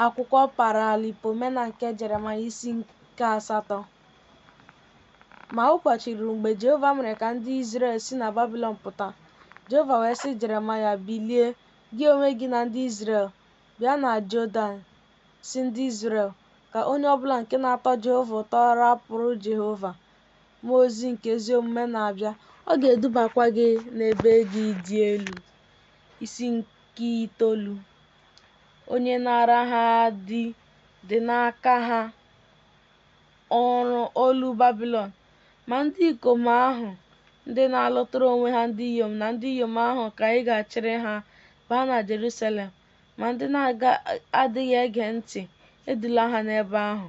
akwụkwọ Paralipomena nke Jeremaya isi nke asatọ. Ma ụbọchị ruru mgbe Jehova mere ka ndị Izrel si na Babilọn pụta. Jehova wee sị Jeremaya, Bilie, gị onwe gị na ndị Izrel, bịa na Jọdan, sị ndị Izrel, ka onye ọ bụla nke na-atọ Jehova ụtọ rapụrụ Jehova. Mmụọ ozi nke ezi omume na-abịa, ọ ga-edubakwa gị n'ebe gị dị elu. Isi nke itoolu. onye naara ha di dị n'aka ha ọrụ olu Babilọn. Ma ndị ikom ahụ ndị na-alụtara onwe ha ndị inyom na ndị inyom ahụ ka ị ga-achịrị ha baa na Jerusalem, ma ndị na-adịghị ege ntị, edula ha n'ebe ahụ.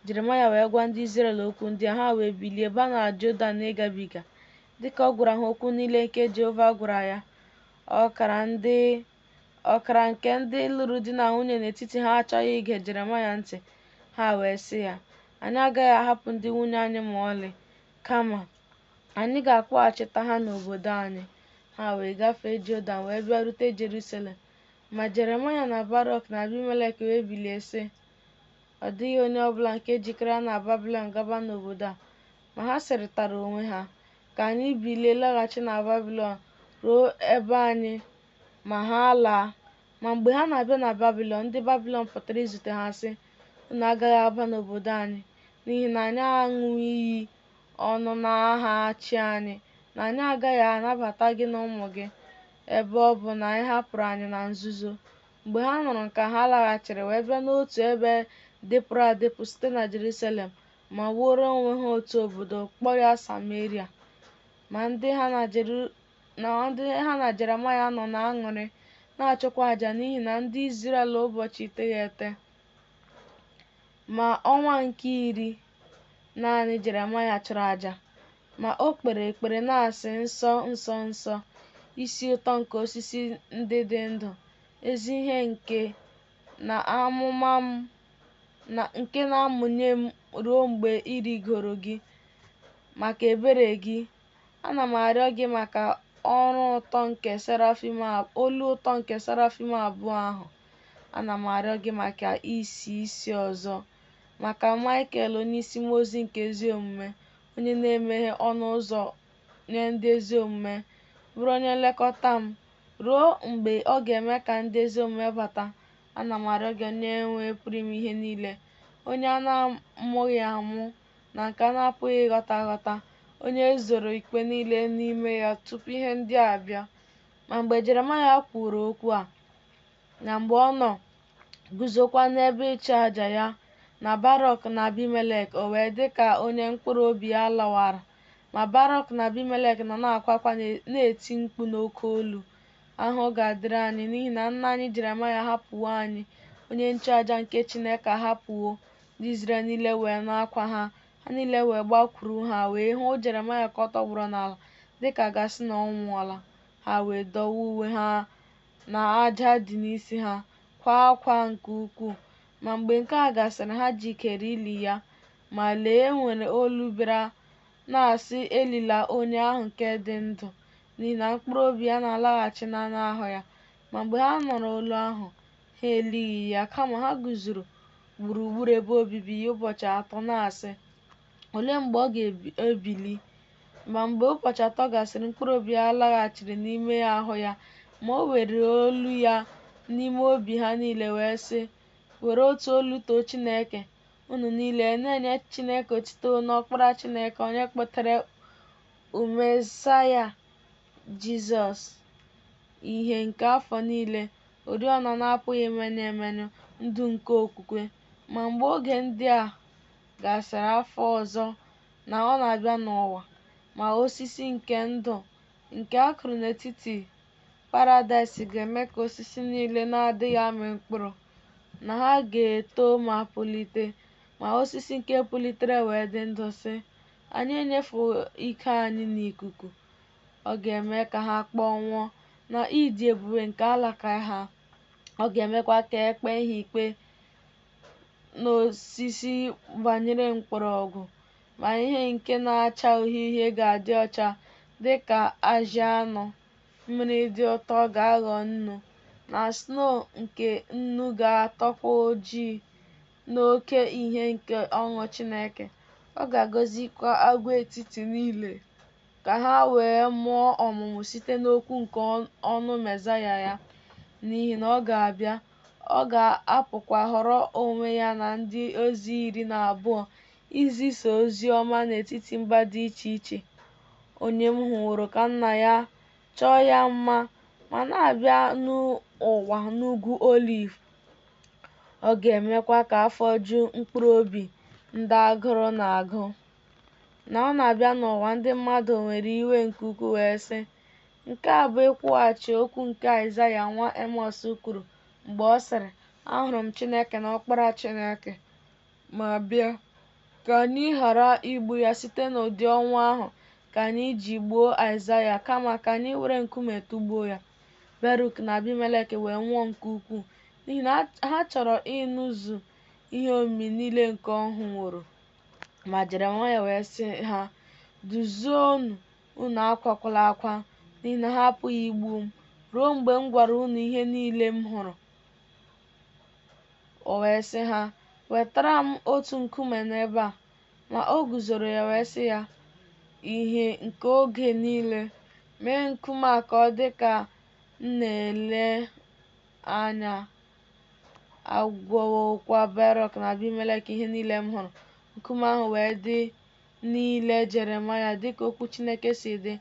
Jeremaya wee gwa ndị Izrel okwu ndị a, ha wee bilie baa na Jọdan ịgabiga. Dịka ọ gwara ha okwu niile nke Jehova gwara ya, ọkara ndị Ọkara nke ndị lụrụ di na nwunye n'etiti ha achọghị ige Jeremaya ntị, ha wee sị ya, Anyị agaghị ahapụ ndị nwunye anyị ma ọlị, kama anyị ga-akpọghachita ha n'obodo anyị. Ha wee gafee Jọdan wee bịarute Jerusalem. Ma Jeremaya na Barọk na Abimelek wee bilie sị, Ọ dịghị onye ọ bụla nke jikọrọ na Babilọn ga-aba n'obodo a. Ma ha sịrịtara onwe ha, Ka anyị bilie laghachi na Babilọn ruo ebe anyị ma ha alaa. Ma mgbe ha na-abịa na Babịlọn, ndị Babịlọn pụtara izute ha sị, Unu agaghị aba n'obodo anyị, n'ihi na anyị aṅụọ iyi ọnụ n'aha chi anyị na anyị agaghị anabata gị na ụmụ gị, ebe ọ bụ na ị hapụrụ anyị na nzuzo. Mgbe ha nụrụ nke a, ha laghachiri wee bịa n'otu ebe dịpụrụ adịpụ site na Jerusalem ma wuoro onwe ha otu obodo, kpọọ ya Sameria. Ma ndị ha na Jeru na ndị ha na Jeremaya nọ na-aṅụrị na-achụkwa aja n'ihi na ndị Izrel ụbọchị iteghete ma ọnwa nke iri naanị Jeremaya chụrụ aja ma o kpere ekpere na-asị nsọ nsọ nsọ isi ụtọ nke osisi ndị dị ndụ ezi ihe nke na-amụma m nke na-amụnye m ruo mgbe ịrịgoro gị maka ebere gị Ana m arịọ gị maka ọrụ nke olu ụtọ nke serafim abụọ ahụ. Ana m arịọ gị maka isi isi ọzọ, maka Maịkel onyeisi mmụọ ozi nke ezi omume, onye na-emeghe ọnụ ụzọ nye ndị ezi omume, bụrụ onye nlekọta m, ruo mgbe ọ ga-eme ka ndị ezi omume bata. Ana m arịọ gị, Onyenwe Pụrụ Ime Ihe Niile, onye a na-amụghị amụ, na nke a na-apụghị ịghọta aghọta, onye e zoro ikpe niile n'ime ya tupu ihe ndị a bịa. Ma mgbe Jeremaya kwuru okwu a, na mgbe ọ nọ guzokwa n'ebe ịchụ aja ya, na Barọk na Abimelek, o wee dị ka onye mkpụrụ obi ya lawara. Ma Barọk na Abimelek nọ na-akwa akwa na-eti mkpu n'oke olu, Ahụhụ ga-adịrị anyị, n'ihi na nna anyị Jeremaya ahapụwo anyị, onye nchụaja nke Chineke ahapụwo Ndị Izrel niile wee nụ akwa ha, ha niile wee gbakwuru ha wee hụ Jeremaya ka ọ tọgbọrọ n'ala dị ka a ga-asị na ọ nwụọla. Ha wee dọwa uwe ha na aja dị n'isi ha, kwaa akwa nke ukwuu. Ma mgbe nke a gasịrị, ha jikere ili ya. Ma lee, e nwere olu bịara na-asị, Elila onye ahụ nke dị ndụ, n'ihi na mkpụrụ obi ya na-alaghachi n'anụ ahụ ya. Ma mgbe ha nụrụ olu ahụ, ha elighị ya, kama ha guzoro gburugburu ebe obibi ya ụbọchị atọ na-asị, Olee mgbe ọ ga-ebili? Ma mgbe ụbọchị atọ gasịrị, mkpụrụ obi ya laghachiri n'ime ahụ ya, ma o were olu ya n'ime obi ha niile wee sị, Were otu olu too Chineke, unu niile, na-enye Chineke otito na Ọkpara Chineke, onye kpọtere Mesaya Jizọs, ihe nke afọ niile, oriọna na-apụghị imenyụ emenyụ, ndụ nke okwukwe. Ma mgbe oge ndị a gasịrị afọ ọzọ na ọ na-abịa n'ụwa, ma osisi nke ndụ nke a kụrụ n'etiti paradaịs ga-eme ka osisi niile na-adịghị amị mkpụrụ, na ha ga-eto ma pulite, ma osisi nke pulitere wee dị ndụ sị, Anyị enyefuwo ike anyị n'ikuku. Ọ ga-eme ka ha kpọnwụọ na ịdị ebube nke alaka ha. Ọ ga-emekwa ka e kpee ha ikpe n'osisi gbanyere mkpọrọgwụ, ma ihe nke na-acha uhie uhie ga-adị ọcha dị ka ajị anụ, mmiri dị ụtọ ga-aghọ nnu, na snow nke nnu ga-atọkwa ojii n'oke ihe nke ọṅụ Chineke. Ọ ga-agọzikwa agwaetiti niile. ka ha wee mụọ ọmụmụ site n'okwu nke ọnụ Mesaya ya, n'ihi na ọ ga-abịa, ọ ga-apụkwa họrọ onwe ya na ndị ozi iri na abụọ izisa ozi ọma n'etiti mba dị iche iche. Onye m hụworo ka nna ya chọọ ya mma ma na-abịa n'ụwa n'ugwu oliv, ọ ga-emekwa ka afọ ju mkpụrụ obi ndị agụrụ na-agụ. na ọ na-abịa n'ụwa ndị mmadụ nwere iwe nke ukwuu wee sị, Nke a bụ ịkwụghachi okwu nke Aịzaya nwa Emọs kwuru mgbe ọ sịrị, Ahụrụ m Chineke na Ọkpara Chineke. Ma bịa, ka anyị ghara igbu ya site n'ụdị ọnwụ ahụ ka anyị ji gbuo Aịzaya, kama ka anyị were nkume tụgbuo ya. Beruk na Abimelek wee nwụọ nke ukwuu n'ihi na ha chọrọ ịnụzu ihe omimi niile nke ọ hụworo. Ma Jeremaya wee sị ha, Duzienụ unu akwakwala akwa, n'ihi na ha apụghị igbu m ruo mgbe m gwara unu ihe niile m hụrụ. O wee sị ha, Wetara m otu nkume n'ebe a. Ma o guzoro ya wee sị ya, Ìhè nke oge niile, mee nkume a ka ọ dị ka m na-ele anya agwawokwa Barọk na Abimelek ihe niile m hụrụ. Nkume ahụ wee dị n'ile Jeremaya dịka okwu Chineke si dị,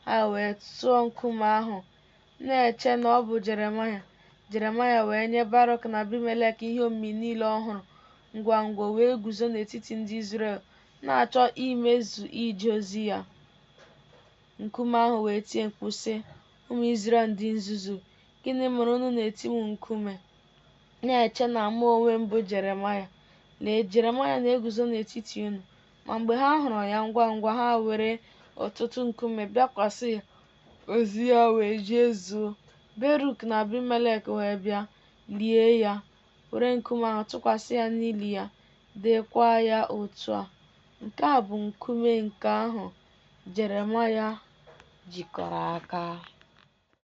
ha wee tụọ nkume ahụ, na-eche na ọ bụ Jeremaya. Jeremaya wee nye Barọk na Abimelek ihe omimi niile ọ hụrụ, ngwa ngwa wee guzo n'etiti ndị Izrel, na-achọ imezu ije ozi ya. Nkume ahụ wee tie mkpu sị, Ụmụ Izrel ndị nzuzu, Gịnị mere unu na-eti m nkume, na-eche na mụ onwe m bụ Jeremaya? Lee, Jeremaya na-eguzo n'etiti unu. Ma mgbe ha hụrụ ya ngwa ngwa, ha were ọtụtụ nkume bịakwasị ya, ozi ya wee jee zuo. Beruk na Abimelek wee bịa, lie ya, were nkume ahụ tụkwasị ya n'ili ya, deekwa ya otu a, Nke a bụ nkume nke ahụ Jeremaya jikọrọ aka.